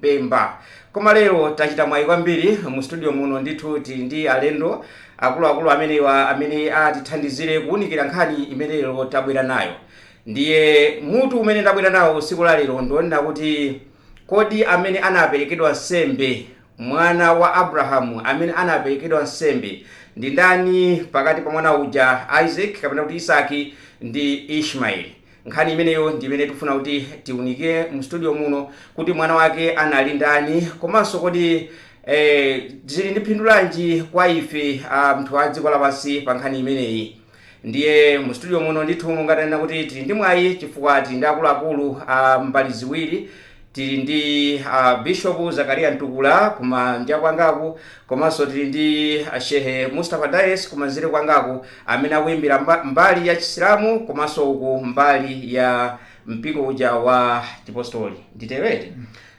Mpemba. Koma lero tachita mwayi kwambiri, mu studio muno ndithu tili ndi alendo akuluakulu amenewa amene atithandizire kuwunikira nkhani imene lero tabwera nayo. Ndiye mutu umene ndabwera nawo tsiku la lero ndi wonena kuti kodi amene anaperekedwa nsembe, mwana wa Abrahamu amene anaperekedwa nsembe, ndi ndani pakati pa mwana uja Isake kapena kuti Isaki ndi Ishmaeli? Nkhani imeneyo ndi imene tikufuna kuti tiunikire mu studio muno kuti mwana wake anali ndani komanso kodi eh, zili ndi phindu lanji kwa ife anthu a dziko lapansi pa nkhani imeneyi ndiye mu studio muno ndithu monga tanena kuti tili ndi mwayi chifukwa tili ndi akuluakulu a mbali ziwiri Tili ndi a Bishop Zakaria Ntukula kumanja kwangaku komanso tili ndi a Shehe Mustapha Dayesi kumanzere kwangaku amene akuimira mba, mbali ya Chisilamu komanso uku mbali ya mpingo uja wa Chipostoli. Nditero eti?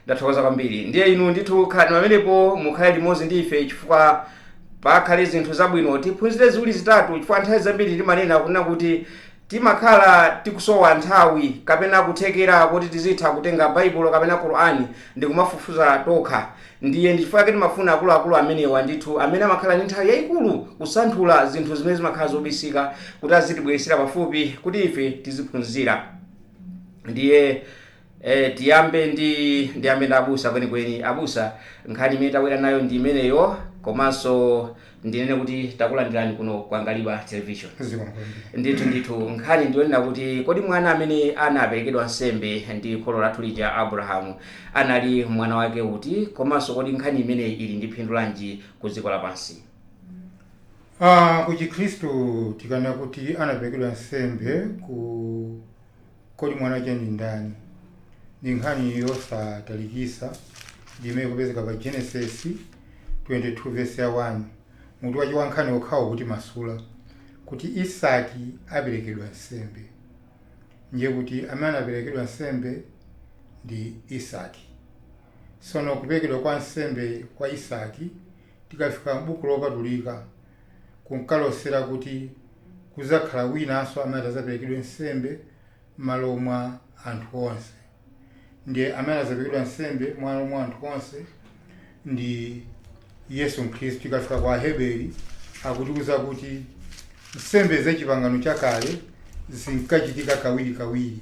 Ndathokoza kwambiri. Ndiye inu ndithu khalani pamenepo mukhale limodzi ndi ife chifukwa pakhale zinthu zabwino tiphunzire ziwiri zitatu chifukwa nthawi zambiri timanena kunena kuti Timakhala tikusowa nthawi kapena kuthekera koti tizitha kutenga Baibulo kapena Qur'an ndikumafufuza tokha, ndiye ndi chifukwa chake timafuna akuluakulu amenewa ndithu amene amakhala ndi nthawi yaikulu kusanthula zinthu zimene zimakhala zobisika kuti azitibweretsera pafupi kuti ife tiziphunzira. Ndiye. E, tiyambe ndi ndiyambe ndi abusa kwenikweni abusa nkhani imene tabwera nayo ndi imeneyo komanso ndinene kuti takulandirani kuno ku Angaliba television zikomo kwambiri ndithu ndithu nkhani ndiyonena kuti kodi mwana amene anaperekedwa nsembe ndi kholo lathu lija abrahamu anali mwana wake uti komanso kodi nkhani imeneyi ili ndi phindu lanji ku dziko lapansi Ah, ku chikhristu tikanena kuti anaperekedwa nsembe ku Kodi Mwanache Ndi Ndani? ndi nkhani yosatalikitsa imene ikupezeka pa Genesis 22 vesi ya 1, mutu wache wa nkhani wokhawo ukutimasula kuti Isaki aperekedwa nsembe. Ndiye kuti amene anaperekedwa nsembe ndi Isaki. Tsono kuperekedwa kwa nsembe kwa Isaki tikafika m'Buku Lopatulika, kunkalosera kuti kudzakhala winanso amene adzaperekedwe nsembe m'malo mwa anthu onse. Ndiye amene adzaperekedwa nsembe m'malo mwa anthu onse ndi Yesu Khristu. Tikafika kwa Aheberi akutiuza kuti nsembe za Chipangano Chakale zinkachitika kawirikawiri.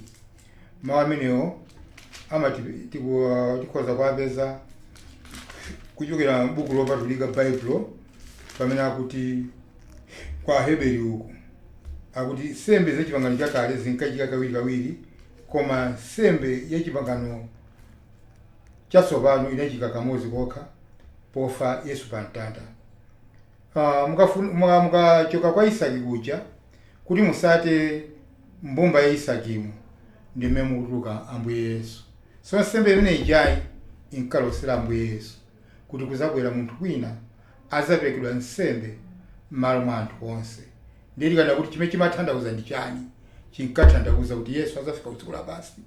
Mawu amenewo amati tiku- tikhoza kuwapeza kuchokera m'buku lopatulika Baibulo pamene akuti kwa Heberi uku akuti nsembe za chipangano chakale zinkachitika kawirikawiri koma nsembe ya chipangano chatsopano inachitika kamodzi kokha pofa Yesu pa mtanda. Ah, mukafun- muka- mukachoka kwa Isaki kuja kuti musate M'mbumba ya Isakimu ndi mmene mukutuluka Ambuye Yesu. So nsembe imene ijayi inkalosera Ambuye Yesu kuti kudzabwera munthu wina adzaperekedwa nsembe m'malo mwa anthu onse. Ndiye tikanena kuti chimene chimathandauza ndi chani? Chinkathandauza kuti Yesu adzafika ku dziko lapansi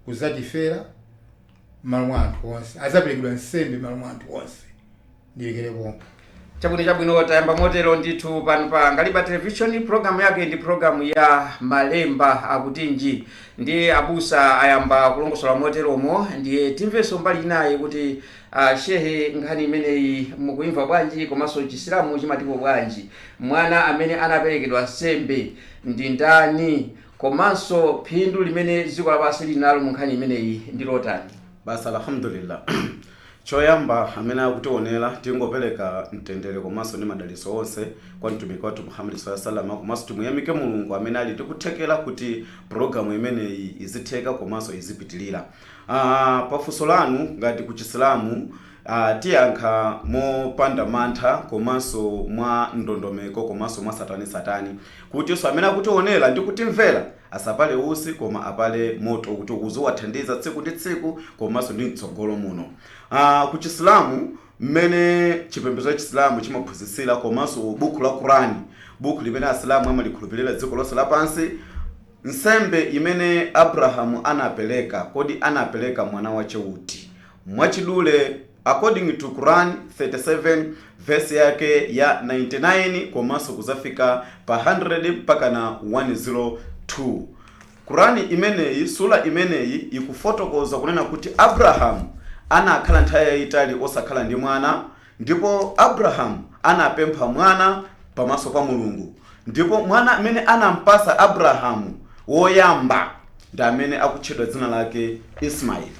kudzatifera m'malo mwa anthu onse. Adzaperekedwa nsembe m'malo mwa anthu onse. ndilekerepo chabwino chabwino tayamba motero ndithu pano pa ngaliba television programu yake ndi programu ya malemba akutinji ndiye abusa ayamba kulongosola moteromo ndiye timvenso mbali inayi kuti uh, shehe nkhani imeneyi mukuimva bwanji komanso chisilamu chimatipo bwanji mwana amene anaperekedwa nsembe ndi ndani komanso phindu limene dziko lapansi lili nalo mu nkhani imeneyi ndi lotani Basi Alhamdulillah. Choyamba amene akutionera tingopereka mtendere komanso ndi madalitso onse kwa mtumiki wathu Muhammad sallallahu alaihi wasallam komanso timuyamike Mulungu amene ali ndi kuthekera kuti program imeneyi izitheka komanso izipitilira. Ah, pafunso lanu ngati ku Chisilamu ah, tiyankha mopanda mantha komanso mwa ndondomeko komanso mwatsatanetsatane kutinso amene akutionera ndi kutimvera Asapale utsi koma apale moto kuti uziwathandiza tsiku ndi tsiku komanso ndi mtsogolo muno. Aaa ku Chisilamu mmene chipembedzo cha Chisilamu chimaphunzitsira komanso bukhu la Quran, bukhu limene Asilamu amalikhulupirira dziko lonse lapansi, nsembe imene Abrahamu anapereka, kodi anapereka mwana wache uti? Mwachidule according to Quran 37 verse yake ya 99 komanso kuzafika pa 100 mpaka na 102 Quran imeneyi sura imeneyi ikufotokoza kunena kuti Abrahamu anakhala nthawi yayitali osakhala ndi mwana Ndipo Abrahamu anapempha mwana pamaso pa Mulungu, ndipo mwana amene anampatsa Abrahamu woyamba ndi amene akutchedwa dzina lake Ismaili.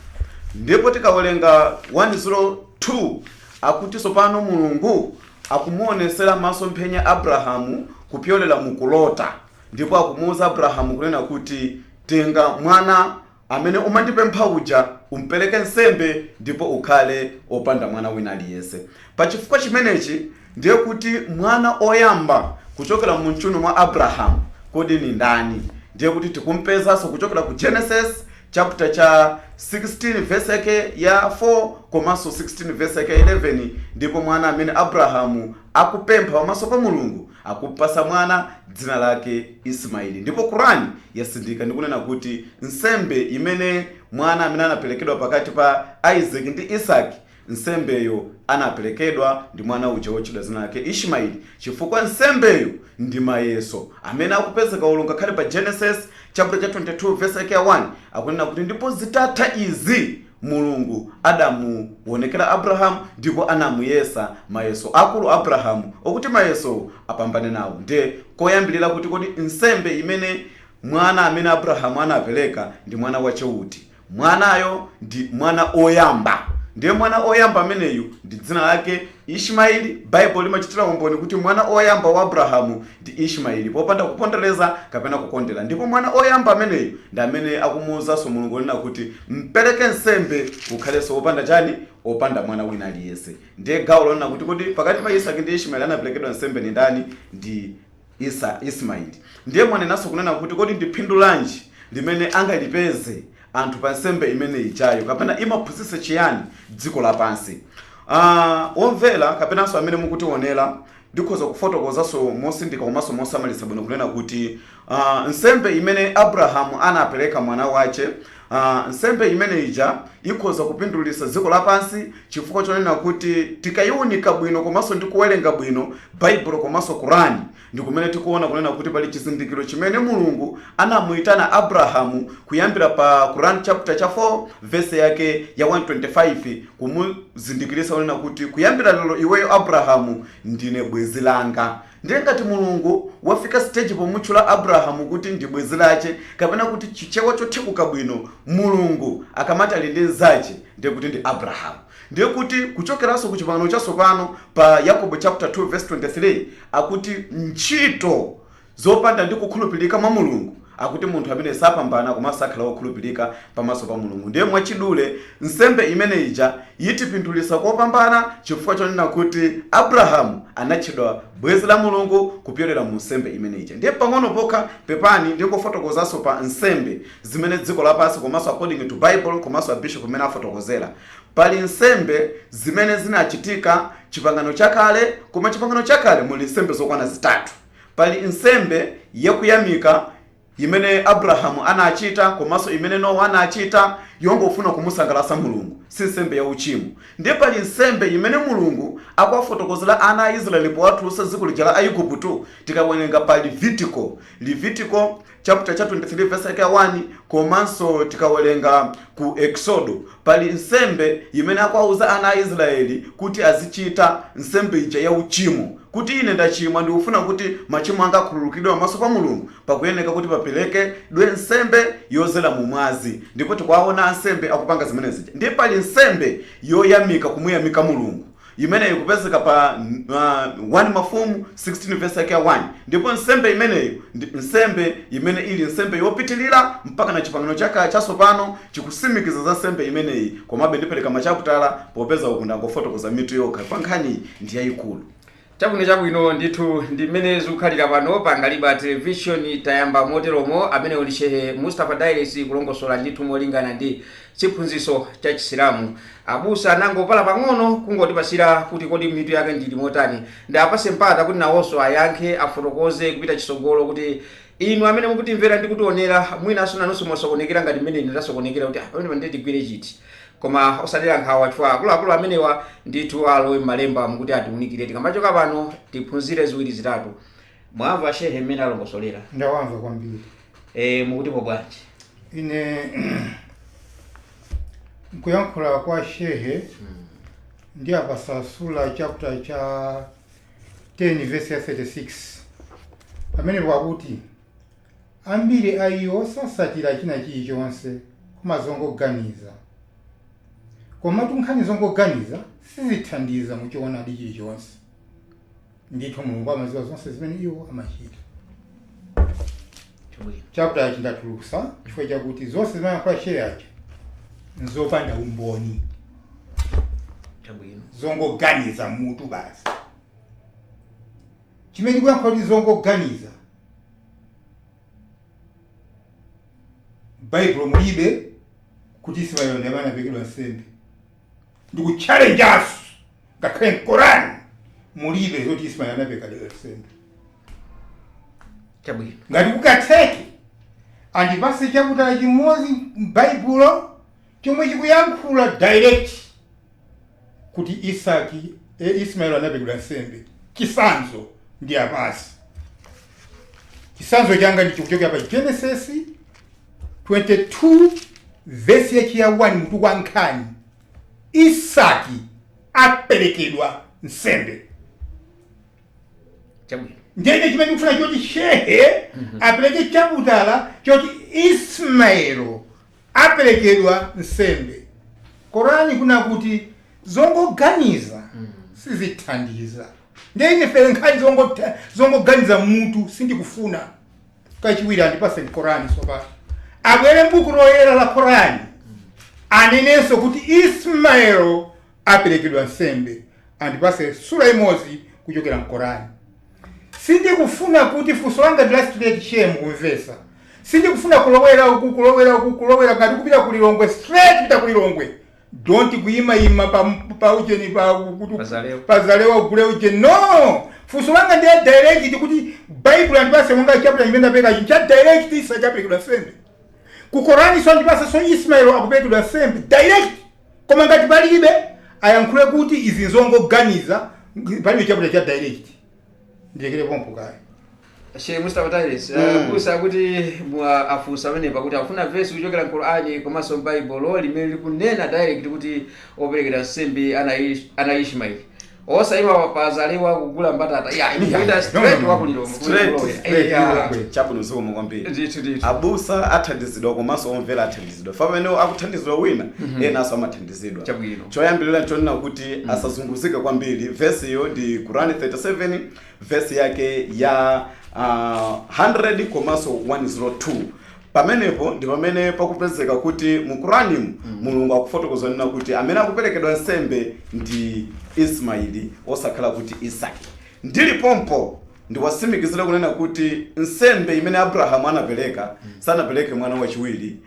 Ndipo tikawerenga 1 0 2 akuti tsopano Mulungu akumuonetsera masomphenya Abrahamu kupyolera mu kulota, ndipo akumuuza Abrahamu kunena kuti, Tenga mwana amene umandipempha uja, umpereke nsembe ndipo ukhale opanda mwana wina aliyense. Pa chifukwa chimenechi ndiye kuti mwana oyamba kuchokera mumchuno mwa Abrahamu kodi ni ndani? Ndiye kuti tikumpezanso kuchokera ku Genesis chapter cha 16 verse yake ya 4 komanso 16 verse yake ya 11 ndipo mwana amene Abrahamu akupempha pamaso pa Mulungu Akumpatsa mwana dzina lake Ismail. Ndipo Qur'an yatsindika ndi kunena kuti nsembe imene mwana amene anaperekedwa pakati pa Isaac ndi Isaki, nsembeyo anaperekedwa ndi mwana uja wotchedwa dzina lake Ishmaeli chifukwa nsembeyo ndi mayeso amene akupezeka olo ngakhale pa Genesis chaputala cha 22 vesi yake ya 1 akunena kuti ndipo zitatha izi. Mulungu adamuwonekera Abrahamu ndipo anamuyesa mayeso akulu Abrahamu okuti mayesowo apambane nawo nde koyambilira kuti kodi nsembe imene mwana amene Abrahamu anapereka ndi mwana wache uti? Mwanayo ndi mwana oyamba nde mwana oyamba ameneyu ndi dzina lake Ishmaeli, Baibulo limachitira umboni kuti mwana oyamba wa Abrahamu ndi Ishmaeli popanda kupondereza kapena kukondera, ndipo mwana oyamba ameneyu ndi amene akumuuzanso Mulungu kunena kuti mpereke nsembe ukhalenso opanda chani? opanda mwana wina aliyense. Ndiye gawo lonena kuti kodi pakati pa Isaki ndi Ishmaeli anaperekedwa nsembe ndi ndani? Ndi. Isa, Ismail. Ndiye mwanenanso kunena kuti kodi ndi phindu lanji limene angalipeze anthu pa nsembe imene ijayo kapena imaphunzitsa chiyani dziko lapansi? Uh, omvera kapenanso amene mukutiwonera ndikhoza kufotokozanso motsindika komanso mosamalitsa bwino kunena kuti uh, nsembe imene Abrahamu anapereka mwana wache Nsembe imene ija ikhoza kupindulitsa dziko lapansi chifukwa chonena kuti tikayiwunika bwino komanso ndi kuwerenga bwino Baibulo komanso Quran ndi kumene tikuona kunena kuti pali chizindikiro chimene Mulungu anamuyitana Abrahamu kuyambira pa Quran chapter cha 4 verse yake ya 125 kumuzindikiritsa kunena kuti kuyambira lero iweyo Abrahamu ndiwe bwenzi langa Ndiye ngati Mulungu wafika stage pomutchula Abrahamu kuti ndi bwenzi lache kapena kuti chichewa chothekuka bwino Mulungu akamati ali ndi nzache ndiye kuti ndi Abrahamu ndiye kuti kuchokeranso ku chipangano chatsopano pa Yakobo chaputala 2 vesi 23 akuti ntchito zopanda ndi kukhulupilika mwa Mulungu Akuti munthu ameneyu sapambana komanso sakhala wokhulupilika pamaso pa Mulungu. Ndiye mwachidule, nsembe imene ija itipindulitsa kopambana chifukwa chonena kuti Abrahamu anatchedwa bwenzi la Mulungu kupyolera mu nsembe imene ija. Ndiye pang'ono pokha, pepani, ndingofotokozanso pa nsembe zimene dziko lapansi komanso according to Bible komanso a Bishop m'mene afotokozera. Pali nsembe zimene zinachitika Chipangano Chakale, koma Chipangano Chakale muli nsembe zokwana zitatu. Pali nsembe yakuyamika imene Abrahamu anachita komanso imene Nowa anachita yongofuna kumusangalatsa Mulungu, si nsembe ya uchimo. Ndiye pali nsembe imene Mulungu akuwafotokozera ana a Israeli powatulutsa m'dziko lija la Aigupto, tikawerenga pa Levitiko, Levitiko chapter cha 23 verse yake ya 1 komanso tikawerenga ku eksodo pali nsembe imene akuwauza ana a israeli kuti azichita nsembe ija ya uchimo kuti ine ndachimwa ndikufuna kuti machimo anga akhululukidwe pamaso pa mulungu pakuyeneka kuti paperekedwe nsembe yozera mu mwazi ndipo tikuwaona ansembe akupanga zimenezi ndiye pali nsembe yoyamika kumuyamika mulungu imeneyi ikupezeka pa 1 Mafumu 16 vesi yake ya 1, ndipo nsembe imeneyo ndi nsembe imene ili nsembe yopitilira mpaka na Chipangano cha Chatsopano chikusimikiza za nsembe imeneyi, komabe ndipereka machaputala popeza uku ndangofotokoza mitu yokha chifukwa nkhaniyi ndi yayikulu. Chabwino, chabwino, ndithu ndi mmene zikukhalira pano pa Ngaliba Television, tayamba moteromo, amenewo ndi Shehe Mustapha Dailes kulongosola ndithu molingana ndi. chiphunzitso cha Chisilamu. Abusa anangopala pang'ono kungotipasira kuti kodi mitu yake ili motani. Ndiwapase mpata kuti nawoso ayankhe, afotokoze kupita chisogolo kuti inu amene mukutimvera ndi kutionera mwinaso nanuso mwasokonekera ngati mmene ine ndasokonekera kuti ah pamenepa ndiye tigwire chiti. Koma osadera nkhawa chifukwa akuluakulu amenewa ndithu alowa mmalembamu kuti atiunikire tikamachoka pano tiphunzire ziwiri zitatu. Mwamva shehe mmene alongosolera? Ndawamva kwambiri. Eh, mukutipo bwanji? Ine mkuyankhula kwa shehe ndiwapasa sura chapter cha 10 verse ya 36 pamenepo akuti ambiri a iwo sasatira china chilichonse koma zongoganiza komatu nkhani zongoganiza sizithandiza muchoonadi chilichonse Ndithu Mulungu amaziwa zonse zimene iwo amachita. Chabwino. Chaputalachi ndatulutsa chifukwa chakuti zonse zimene ayankhula Shehe aja nzopanda umboni, Chabwino. zongoganiza m'mutu basi. Chimene ndikuyankhula kuti zongoganiza, Baibulo mulibe kuti Ismaeli ndi amene anaperekedwa nsembe. ndikuchalenjaso ngakhale mkoran mulibe zoti ismail anaperekedwa nsembe chabwino ngati kungatheke andipase chaputala chimodzi m'baibulo chomwe chikuyankhula direct kuti isaki e, ismail anaperekedwa nsembe chisanzo ndiwapase chisanzo changa ndi chikuchokera pa genesis 22 vesi yache ya 1 mutu wa nkhani, isaki aperekedwa nsembe. Chabwino. ndiye ine chimene ndikufuna choti shehe apereke chaputala choti ismaelo aperekedwa nsembe korani kuna kuti zongoganiza sizithandiza ndiye ine pheree nkhani zongotha- zongoganiza mutu sindikufuna kachiwiri andipatseni korani tsopano abwere mbuku loyera la korani anenenso kuti ismaelo aperekedwa nsembe andipase sura imodzi kuchokera mkorani sindikufuna kuti funso langa ndi la straight shehe mukumvesa sindikufuna kulowera uku kulowera uku kulowera ngati kupita kulilongwe straight pita kulilongwe Don't kuyima yima pa pa ujeni pa kuti Pazalewa. pazalewa ugule ujeni no funso langa ndi la direct kuti Bible yandipatsa monga chapter chimene ndapereka ichi cha direct Isaki aperekedwa nsembe ku Koraninso andipasenso Ismail akuperekedwa nsembe direct koma ngati palibe ayankhule kuti izi nzongoganiza palibe chapter cha direct ndilekere pompo kaye Sheikh Mustafa Tairis Mm. abusa akuti afunsa pamenepa kuti akufuna verse kuchokera m'Qur'ani komanso m'Baibulo limene likunena direct kuti operekedwa nsembe anali Ish- anali Ishmael osayima pa Zalewa kugula mbatata ya Yeah. kupita No, straight no, no. wa ku Lilo- Straight, straight, Lilongwe. chabwino zikomo kwambiri ndithu ndithu abusa athandizidwa komanso omvera athandizidwa fa pamene akuthandizidwa wina enanso amathandizidwa Chabwino. Choyambirira n'chonena kuti asazunguzike kwambiri. Vesiyo ndi Qur'an 37, vesi yake ya ah, 100 komanso 102. Pamenepo ndi pamene pakupezeka kuti mu Qur'animu Mulungu akufotokoza kunena kuti amene akuperekedwa nsembe ndi Ismaili osakhala kuti Isaki. Ndili pompo ndiwatsimikizire kunena kuti nsembe imene Abrahamu anapereka sanapereke mwana wachiwiri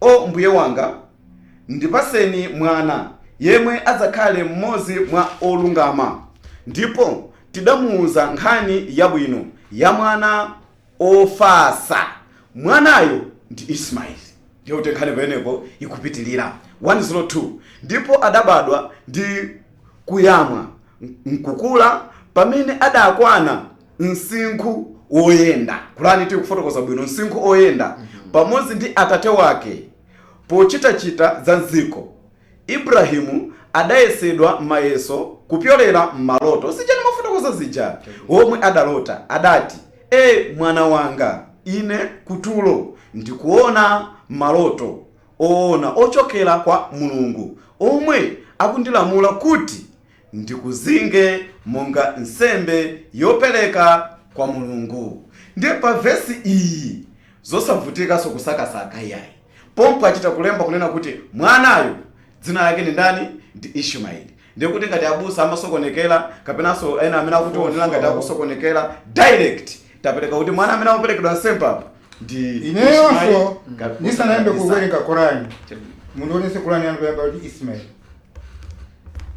O Mbuye wanga! Ndipatseni mwana yemwe adzakhale mmodzi mwa olungama. Ndipo tidamuuza nkhani yabwino ya mwana ofatsa. Mwanayo ndi Ismail. Ndiye kuti nkhani pamenepo ikupitirira, 102, ndipo adabadwa ndi kuyamwa nkukula pamene adakwana. msinkhu woyenda. Qur'an ikufotokoza bwino msinkhu oyenda pamodzi ndi atate wake pochitachita za m'dziko. Ibrahim adayesedwa mayeso kupyolera m'maloto, zija ndimafotokoza zija, womwe adalota, adati, E, mwana wanga! Ine kutulo ndikuona maloto oona ochokera kwa Mulungu omwe akundilamula kuti ndikuzinge monga nsembe yopereka kwa Mulungu. Ndiye pa vesi iyi zosavutikanso kusakasaka iyayi. Pompo achita kulemba kunena kuti mwanayo dzina lake ndi ndani? Ndi Ishumaeli. Ndiye kuti ngati abusa amasokonekera kapenanso ena amene akutiwonera ngati akusokonekera direct tapereka kuti mwana amene akuperekedwa nsembe apa ndi ineyonso ndisanayambe kuwerenga korani mundiwonese korani yanu kuyamba kuti ismail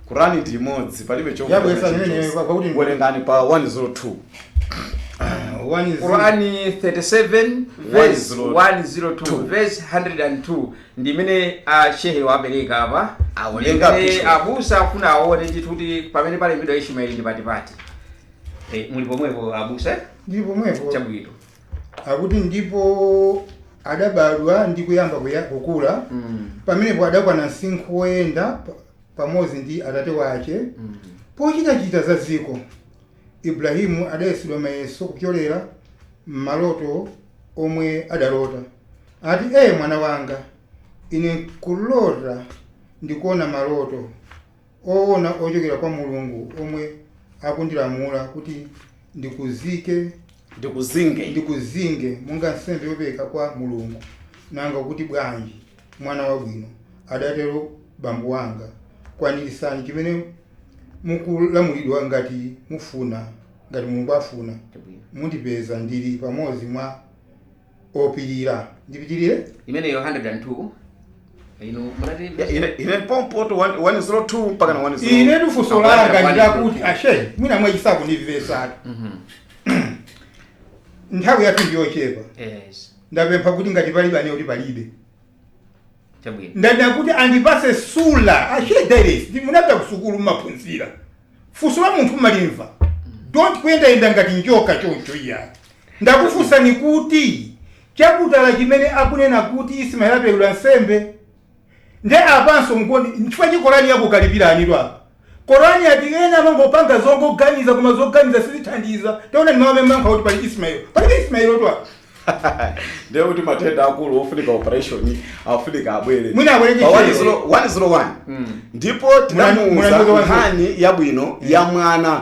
kurani ndi imodzi palibe chovuta Yabweza chilichonse. imeneyo kwa- kwakuti- werengani pa 102 One is- Qurani 37 verse 102. 102 verse 102 ndi imene a shehe wapereka apa Awerenga Ndi imene bishop. abusa afuna aone ndithu kuti pamene palembedwa ismaeli ndi patipati Eh, muli pomwepo abusa eh? ndi pomwepo chabwino akuti ndipo adabadwa ndi kuyamba kuya- kukula Mm. pamenepo adakwana msinkhu woyenda pa- pamodzi ndi atate wache Mm. pochitachita za dziko ibrahimu adayesedwa mayeso kupyolera m'maloto omwe adalota ati ee mwana wanga ine kulota ndikuona maloto owona ochokera kwa Mulungu omwe akundilamula kuti ndikuzike, ndikuzinge. ndikuzinge monga nsembe yopereka kwa Mulungu. Nanga ukuti bwanji, mwana wabwino, adatero bambo wanga, kwaniritsani chimene mukulamulidwa ngati mufuna, ngati Mulungu afuna, mundipeza ndili pamodzi mwa. opirira ndipitirire imeneyo 102 inu munati Ya, ine ine pompoto 102 mpaka na 102 ine ndifunso Akwana langa kwani ndi lakuti kuti. ashe mwina mwachisaku ndivesatu nthawi yathu ndiyochepa yes ndapempha kuti ngati palibe anene kuti palibe Chabwino. ndanena kuti andipase sura ashe dairis ndi munapita kusukulu mumaphunzira funso la munthu mmalimva don't kuyendayenda ngati njoka choncho iya ndakufunsani kuti chaputala chimene akunena kuti ismail aperekedwa nsembe nde apanso mkuti nchifukwa chake korani yakukalipirani lwa Korani yati ena amangopanga zongoganiza koma zoganiza sizithandiza. Taonani mawu amene amayankha kuti pali Ismail. Palibe Ismailotu apa. ndiye kuti matenda akulu ofunika operation afunika abwere Mwina abwere ndi Pa one chiyero. zero- one zero one. ndipo Munani- munani tinamuuza kuti wa- nkhani yabwino ya mwana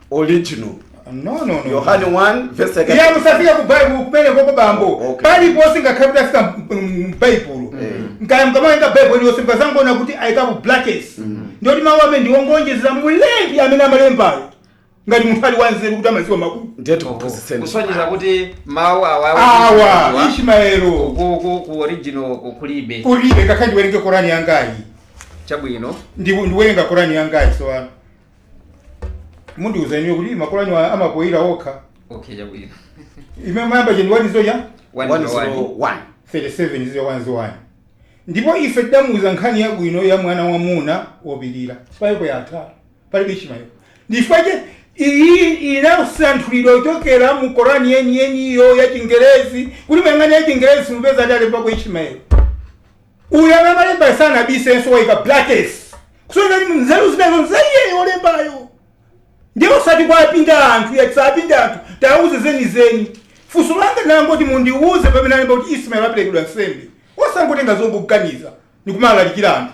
original no no no yohane 1 verse like iye musafika ku baibulo kumene koko bambo Oh, okay. paliponse ngakhale kuti afika mbaibulo nkaya mukamaenga baibulo iliyonse mukazangona kuti ayikapo brackets ndiye kuti mawu amene ndiwongonjezera mulembi amene amalembayo ngati munthu ali wanzeru kuti amaziwa makulu ndiye tikuphunzitseni kusonyeza kuti mawu awa awa Ishmaeli ku- ku- ku original ku- kulibe kulibe ngakhale ndiwerenge korani yangayi chabwino Ndi- ndiwerenga korani yangayi sowana mundiuza iniyo kuti makolo anyu amapoyira okha okay chabwino imene mayamba cheni wanizo cha One One zero one. zero one. 37 zija wanzi wani ndipo ife tidamuuza nkhani yabwino ya mwana wamuna wopirira palipo yatha palibe Ishmaeli ndifaje iyi inasanthulidwa kuchokera mu korani yeniyeniyo ya chingerezi kuti mukayang'ana ya chingerezi mupeza adalembako ichimayo Uyu amene amalembayo sanabisenso waika brackets kusonyeza kuti nzeru zimenezo nza iyeyo wolembayo ndiye osati kwa apinda anthu ayi tisapinde anthu tauze zenizeni funso langa ndangoti mundiuze pamene alemba kuti Ismael waperekedwa nsembe osangotenga zongoganiza ndikumalalikira anthu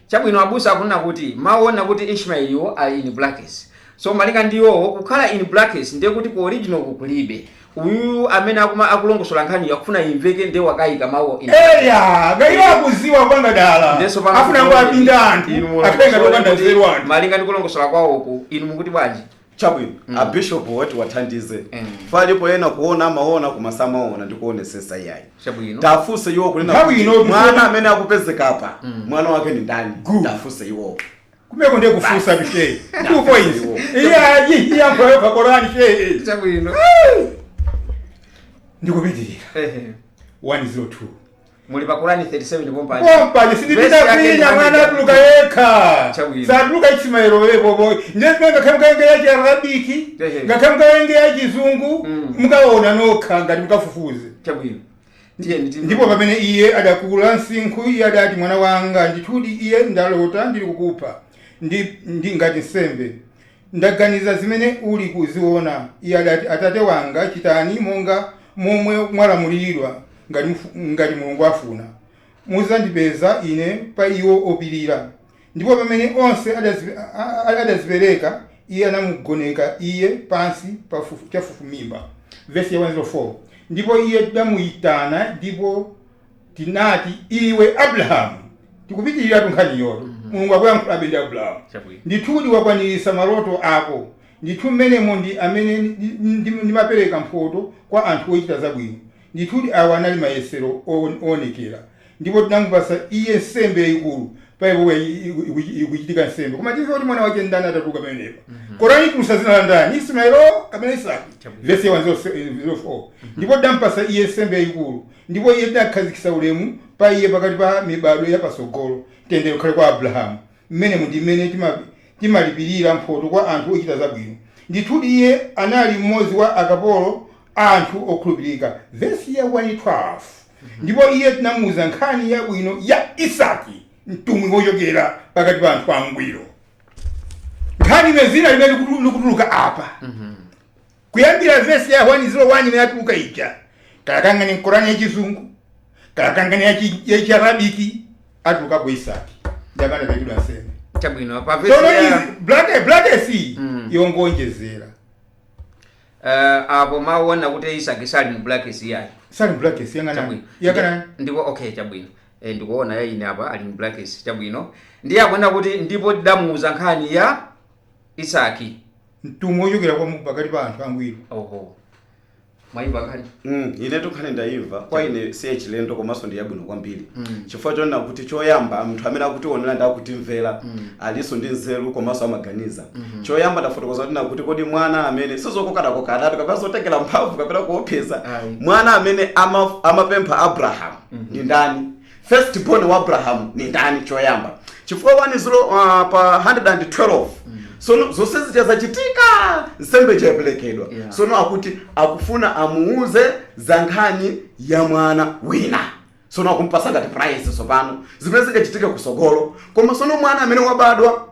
Chabwino, abusa akunena kuti mawu onena kuti Ishmaeliwo ali in brackets. So, malinga ndi iwowo, kukhala in brackets ndiye kuti ku original'ku kulibe. Uyuyu amene akuma, akulongosola nkhani'yo akufuna imveke ndiye wakaika mawuwo in brackets. Eya, kaya iwo akuziwa kupanga dala. Ndiye tsopano Afuna kuti muone angowapinda anthu, inu akhale ngati mulongosole opanda kuti nzeru anthu. malinga ndi kulongosola kwawoku inu mukuti bwanji? chabwino mm. abishopu ati tiwathandize mm. palipo ena kuona amaona koma samaona ndi kuonesesa iyayi tafunse iwo kunena mwana amene akupezeka apa mm. mwana wake ni ndani tafunse iwowo kumeko ndiye kufunsa a sheyi two points iyayi iyankhe yokha Korani sheyi chabwino ndikupitirira 102 Muli pa Korani 37 pompano. Pompano sindipita kwina mwana atuluka yekha. Chabwino. Satuluka ichimayero we bobo. Ndiye ngakhale mukawerenge ya Arabic, Ehe. ngakhale mukawerenge ya Chizungu, Mm. mukaona nokha ngati mukafufuze. Chabwino. Ndiye nditi. Ndipo pamene iye adakula msinkhu, iye adati mwana wanga, ndithudi iye ndalota ndili kukupha ndi, ndi ngati nsembe. Taganiza zimene uli kuziona, iye adati, Atate wanga, chitani monga momwe mwalamuliridwa, ngati mufu, ngati Mulungu afuna, mudzandipeza ine pa iwo opirira. Ndipo pamene onse adazi, a, a, adazipereka, iye anamugoneka iye pansi pa fufu, chafufumimba. Vesi ya 104. Ndipo iye tidamuitana, ndipo. tinati iwe abrahamu tikupitiriratu nkhaniyotu Mulungu akuyankhulabe ndi abrahamu Chabwino. ndithudi wakwanirisa maloto ako ndithu mmenemo ndi amene ndi- ndi- ndimapereka mphoto kwa anthu ochita zabwino ndithudi awa anali mayesero o- oonekera ndipo tinamupasa iye nsembe yayikulu apapo ikuchitika nsembe koma timve kuti mwana wake ndani atatuluka pamenepa korani itulusa zina la ndani ismaeli kapena isaki Chabwino. vesi ya wan zilo fo ndipo tidampasa iye nsembe yayikulu Ndipo Iye tinakhazikisa ulemu pa iye pakati pa mibadwo ya pasogolo. Mtendere ukhale kwa Abrahamu! Mmenemo ndi mmene timalipirira mphoto kwa anthu ochita zabwino. Ndithudi iye anali mmodzi wa akapolo athu okhulupirika, vesi ya 1, 12, ndipo iye tinamuuza nkhani yabwino ya Isaki, mtumwi wochokera pakati pa anthu angwiro. Nkhani imene zina limene likutuluka apa. Kuyambira vesi ya 1 0 1 imene yatuluka ija, kalakangani mkorani ya chizungu, kalakangani ya chi- ya chiarabiki, atulukapo Isaki ndi amene anaperekedwa nsembe. chabwino pa vesi Tsono ya izi blake bulaketsi Mm. yongonjezera eh, apo mawona kuti isaki sali mu brackets yayi sali mu brackets yang'ana chabwino yang'ana ndipo okay chabwino e, ndikuona yaine apa ali mu brackets chabwino ndiye akuona kuti ndipo tidamuuza nkhani ya isaki mtumwi wochokera kwa pakati pa anthu angwiro. Oho. Mwaimva nkhani? Mm, inetu nkhani ndayimva kwa ine si yachilendo komanso ndi yabwino kwambiri chifukwa chonena kuti choyamba munthu amene akutionera ndi akutimvera alinso ndi nzeru komanso amaganiza choyamba ndafotokoza tinakuti kodi mwana amene sizokokanakoka atatu kapena zotengera mphamvu kapena kuopseza Ayi. mwana amene ama- amapempha abrahamu ndi ndani first born wa abrahamu ni ndani choyamba chifukwa 1 zilo uh, pa 112 sono zonse zija zachitika nsembe ija yaperekedwa Yeah. sono akuti akufuna amuuze za nkhani ya mwana wina sono akumpasa ngati prize sopano zimene zingachitika kusogolo koma sono mwana amene wabadwa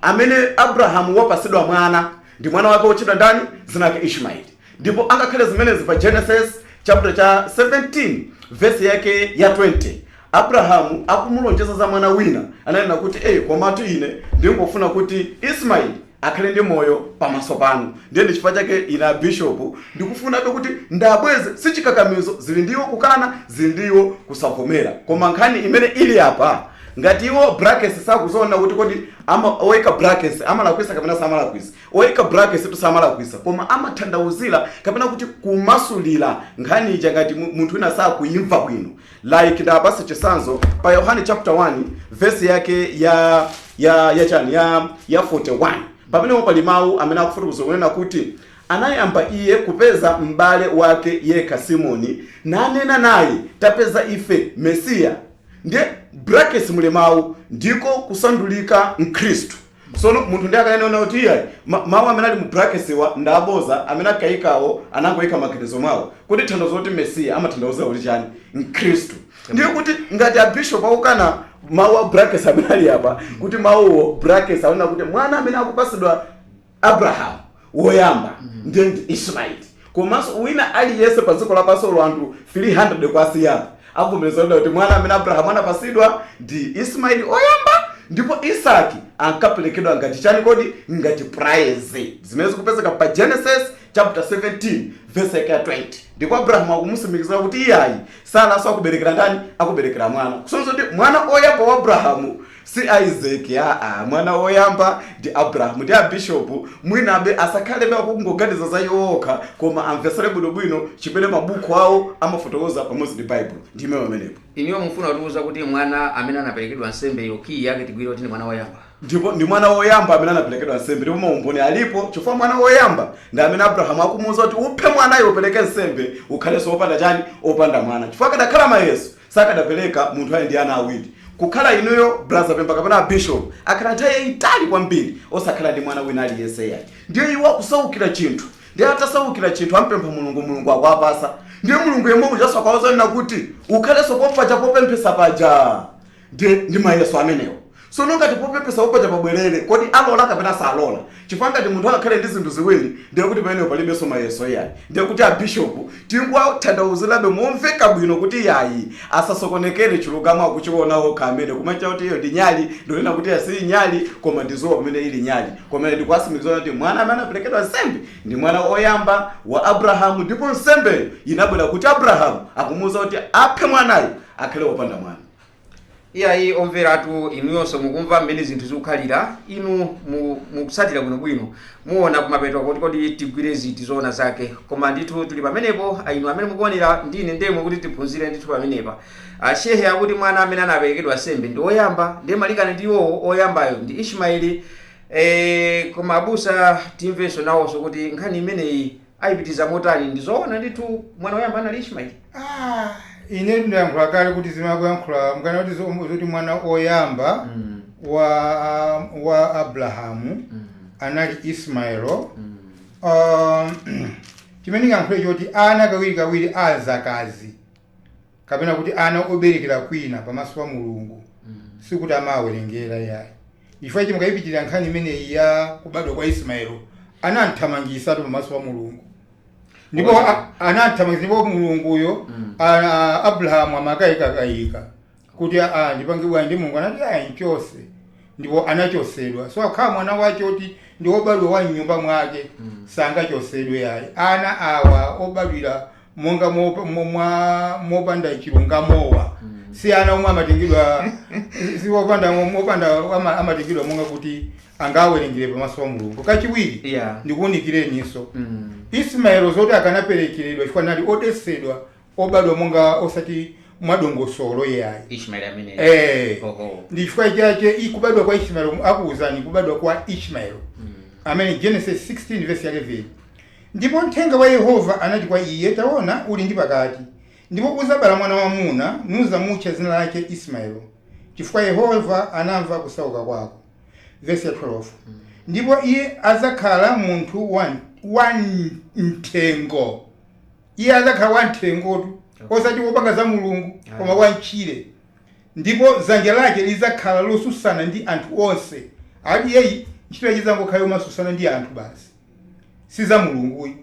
amene Abrahamu wapasidwa mwana, ndi mwana wake wotchedwa ndani? Zina lake Ishmaeli. Ndipo angakhale zimenezi pa Genesis chaputala cha 17 vesi yake ya 20, Abrahamu akumulonjeza za mwana wina, ananena kuti, Ee, komatu ine ndingofuna kuti Ishmaeli akhale ndi moyo pamaso panu. Ndiye ndi chifukwa chake ine a Bishop ndikufunabe kuti ndabweze, sichikakamizo, zili ndi iwo kukana, zili ndi iwo kusavomera. Koma nkhani imene ili apa, Ngati iwo brackets sakuziona kuti kodi ama, oika brackets amalakwisa kapena samalakwisa, oika brackets tu samalakwisa koma amatanthauzila kapena kuti kumasulila nkhani ija ngati mu- munthu wina sakuimva bwino like ndipase chisanzo pa Yohane chapter 1 verse yake ya ya ya chani ya ya 41 pamenepo pali mawu amene akufotokoza kunena kuti anayamba iye kupeza m'bale wake yekha simoni nanena naye tapeza ife mesiya ndiye brackets muli mawu ndiko kusandulika mkhristu sono munthu ndiye akanena kuti iyayi ma- mawu amene ali mu brackets wa ndi aboza amene akayikawo anangoyika maganizo mwawo kuti tanthauzo loti mesiya amatanthauza kuti chani mkhristu ndiye kuti ngati abishop akukana mawu a brackets amene ali apa kuti mawu a brackets aona kuti mwana amene akupasidwa Abrahamu woyamba, ndiye ndi Ismayeli, komanso wina aliyense pa dziko lapansi olo anthu 300 kwasiyapa avomereza onena kuti mwana amene Abrahamu anapatsidwa ndi Ismayeli oyamba ndipo Isaki ankaperekedwa ngati chani kodi? Ngati prize, zimene zikupezeka pa Genesis chapter 17 verse yake ya 20 ndipo Abrahamu akumusimikizira kuti iyayi, Saraso akuberekera ndani? Akuberekera mwana, kusonyeza kuti mwana oyamba wa Abrahamu Si Isaac aa mwana woyamba ndi Abraham ndi a Bishop mwinabe asakhalebe akungoganiza za iwo okha koma amvetsere bwino bwino chimene mabukhu awo amafotokoza pamodzi ndi Baibulo. Ndiime pamenepo. Inuyo mufuna kutiuza kuti mwana amene anaperekedwa nsembeyo kiyi yake tigwire kuti ndi mwana woyamba? Ndipo ndi mwana woyamba amene anaperekedwa nsembe ndipo maumboni alipo chifukwa mwana woyamba ndi amene Abraham akumuuza kuti uphe mwanayo upereke nsembe ukhalenso opanda chani? Opanda mwana. Chifukwa akadakhala mayeso Sakadapeleka munthu ali ndi ana awiri. Kukhala inuyo Brother Pemba kapena a Bishop akhala nthawi yayitali kwambiri osakhala ndi mwana wina aliyense yayi. Ndiye iwo akusaukira chinthu. Ndiye atasaukira chinthu ampempha Mulungu, Mulungu akuwapasa. Ndiye Mulungu yemwe ujanso akawauza onena kuti ukhalenso kopaja popemphesa paja. Ndiye ndi mayeso amenewo. Sono ngati popemphesa upaja pabwelele, kodi alola kapena salola? Chifukwa ngati munthu angakhale ndi zinthu ziwiri ndiye kuti pamenepo palibenso mayeso iyayi. Ndiye kuti a Bishop tingowatanthauzilabe momveka bwino kuti yayi asasokonekele chilungamo akuchiona okha amene kumati kuti iyo ndi nyali ndikunena kuti iyayi siyi nyali koma ndi zuwa pamene ili nyali. Koma ine ndikuwasimikiza onena kuti mwana amene anapelekedwa nsembe ndi mwana oyamba wa Abrahamu ndipo nsembeyo yinabwela kuti Abrahamu akumuuza kuti aphe mwanayo akhale opanda mwana. iyayi omveratu inuyonso mukumva mmene zinthu zikukhalira inu mu- mukutsatira bwinobwino muona kumapeto kuti kodi tigwire ziti zoona zake koma ndithu tuli pamenepo ah, inu amene mukuonera ndine ndemwe kuti tiphunzire ndithu pamenepa ashehe akuti mwana amene anaperekedwa nsembe ndi oyamba ndiye malingana ndi iwowo oyambayo ndi ismaeli eh, koma abusa timvenso nawonso kuti nkhani imeneyi Ayipitiriza motani? Ndi zoona ndithu mwana oyamba anali Ishmaeli? Ah, inetu ndayankhula kale kuti zimene akuyankhula mukana kuti zo- zoti mwana oyamba wa wa Abrahamu anali Ismaelo um, chimene ndingayankhule choti ana kawiri kawiri azakazi kapena kuti ana oberekera kwina pamaso pa mulungu sikuti amawawerengera yayi chifukwa ichi mukayipitirira nkhani imeneyi ya kubadwa kwa ismaelo anamthamangisatu pamaso pa mulungu ndipo Oza. a- anamthamangisa ndipo mulunguyo Mm. a- a- abrahamu amakayikakayika kuti aa ndipange bwanji ndi mulungu anati ayi mchose ndipo anachosedwa so akakhala mwana wache oti ndi obadwa wa mnyumba mwake sangachosedwe yayi ana awa obadwira monga mopa- mo- mwa- mopanda chilungamowa si ana omwe amatengedwa si opanda mopanda ama- amatengedwa monga kuti angawerengere pamaso pa mulungu kachiwiri Yeah. ndikuwunikireninso Mm. ismaelo zoti akanaperekeredwa chifukwa anali odesedwa obadwa monga osati mwadongosolo iyayi ishmaeli ameneyo Eh. oho ndi chifukwa chache i- kubadwa kwa ishmaeli akuwuzani kubadwa kwa ishmaeli amene genesis 16 verse ya 11 ndipo mthenga wa yehova anati kwa iye taona uli ndi pakati ndipo uzabala mwana wamuna nuzamutcha dzina lache ismaeli chifukwa yehova anamva kusauka kwako verse ya 12 ndipo iye adzakhala munthu wa, wa mthengo Iye adzakhala wamthengotu, osati wopanga za Mulungu, koma wam'tchire. Ndipo dzanja lake lidzakhala losusana ndi anthu onse. Ati iyeyi ntchito yache idzangokhala yomasusana ndi anthu basi. Si za Mulunguyi.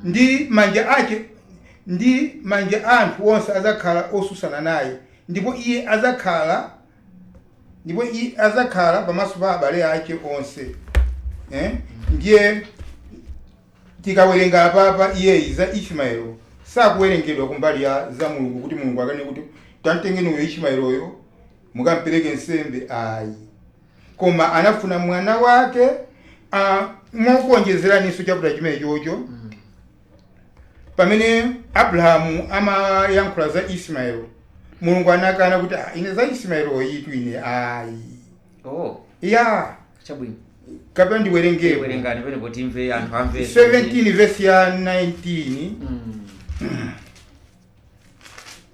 Ndi manja ache, ndi manja a anthu onse adzakhala osusana naye. Ndipo iye adzakhala, ndipo iye adzakhala pamaso pa abale ache onse. Eh? Ndiye. Tikawerenga apapa iyeyi za Ishmael sakuwerengedwa kumbali ya za Mulungu kuti Mulungu akanene kuti tamtengeni uyo Ishmael uyo mukampereke nsembe ayi. Koma anafuna mwana wake mokuonjezeranso chaputala chimenechocho pamene Abrahamu amayankhula za Ishmael Mulungu anakana kuti "Ah, ine za Ishmaeloyitu ine ayi. oh ya chabwino kapena ndiwerengeko werengani bwino kuti amve anthu amve 17 vesi ya 19 Mm.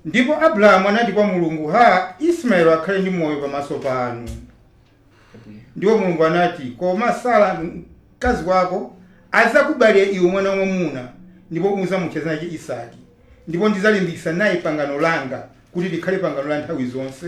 ndipo abrahamu anati kwa mulungu ha ismaeli akhale ndi moyo pamaso panu Chabwino. ndipo mulungu anati koma sara mkazi wako adzakubalira iwe mwana wamwamuna ndipo udzamutcha dzina lache isaki ndipo ndidzalimbikitsa naye pangano langa kuti likhale pangano la nthawi zonse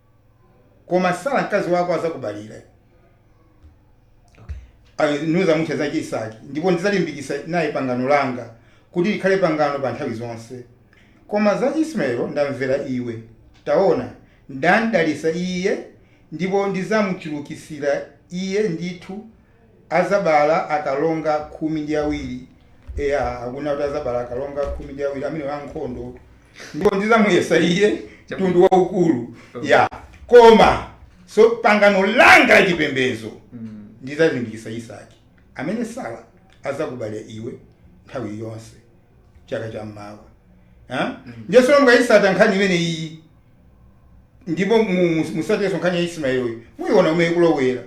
koma sara mkazi wako azakubalira, ndi uzamutcha dzace isaki ndipo ndidzalimbikitsa naye pangano langa kuti likhale pangano pa nthawi zonse koma za ismayelo ndamvera iwe taona ndamdalitsa iye ndipo ndidzamchulukitsira iye ndithu Adzabala akalonga khumi ndi awiri. Eya, akunena kuti adzabala akalonga khumi ndi awiri amene ankhondo. Ndipo ndidzamuyesa iye mtundu waukulu. Ya, koma so, pangano langa la chipembedzo ndidzalimbikitsa Isaki, amene Sara adzakubalira iwe nthawi yonse chaka cha mmawa. Ha? Ndiye sono mukayitsata nkhani imene iyi Ndipo mu, mu, musatiyenso nkhani ya Ismaelo uyu, muyiona umene ikulowera.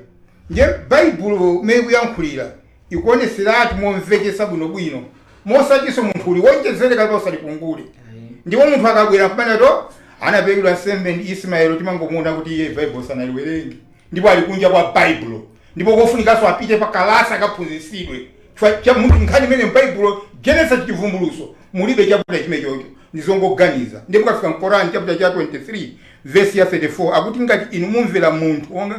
Ndiye Baibulo umene ikuyankhulira, ikuonetseratu momvetsetsa bwino bwino, mosatinso munthu uliwonjezere kapena usalipungule. Ayi. Ndipo munthu akabwera nkumanena kuti, oh, anaperekedwa nsembe ndi Ismaelo, timangomuona kuti iye Baibulo sanaliwerenge. ndipo ali kunja kwa Baibulo, ndipo kofunikanso apite pa kalasi akaphunzitsidwe, chifukwa cha munthu nkhani imene m'Baibulo Genesis Chivumbulutso mulibe chaputala chimechocho, ndi zongoganiza, ndiye mukafika m'Koran chaputala cha 23 vesi ya 34 akuti ngati inu mumvera munthu wonga